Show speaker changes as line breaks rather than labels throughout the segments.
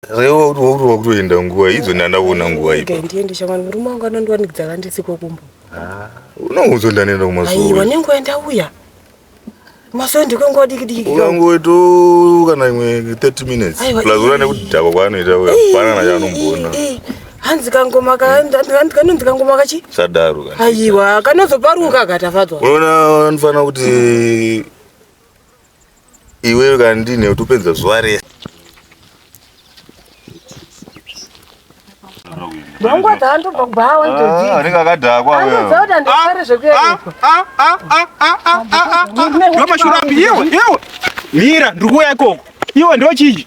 Rewa uri uri wakutoenda nguva idzo ndandaona nguva ipo. Ndiende shamwari murume wangu
anondiwanikidza vandisiko kumbo. Ah, unoudza
ndanenda kumasowe. Aiwa nenguva ndauya.
Masowe ndikongo diki diki. Unango to
kana imwe 30 minutes. Plus ura nekudhakwa kwaanoita uya. Pana na chanomboona. Hanzi
kangoma ka hanzi kanonzi kangoma kachi? Sadaro kana. Aiwa
kanozoparuka
katafadzwa. Unaona anofanira
kuti iwewe kana ndine utopedza zuva
rese
mira ndikuuya ikoko iwe ndochii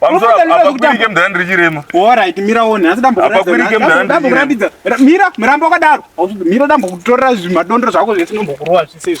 Pamusoro apakwirike
mdhara ndiri chirema. Alright, mira one.
Asi dambo kuratidza. Apakwirike mdhara ndiri kuratidza. Mira, mrambo wakadaro. Mira dambo kutorera zvimadondoro zvako zvese nombokurowa zvese.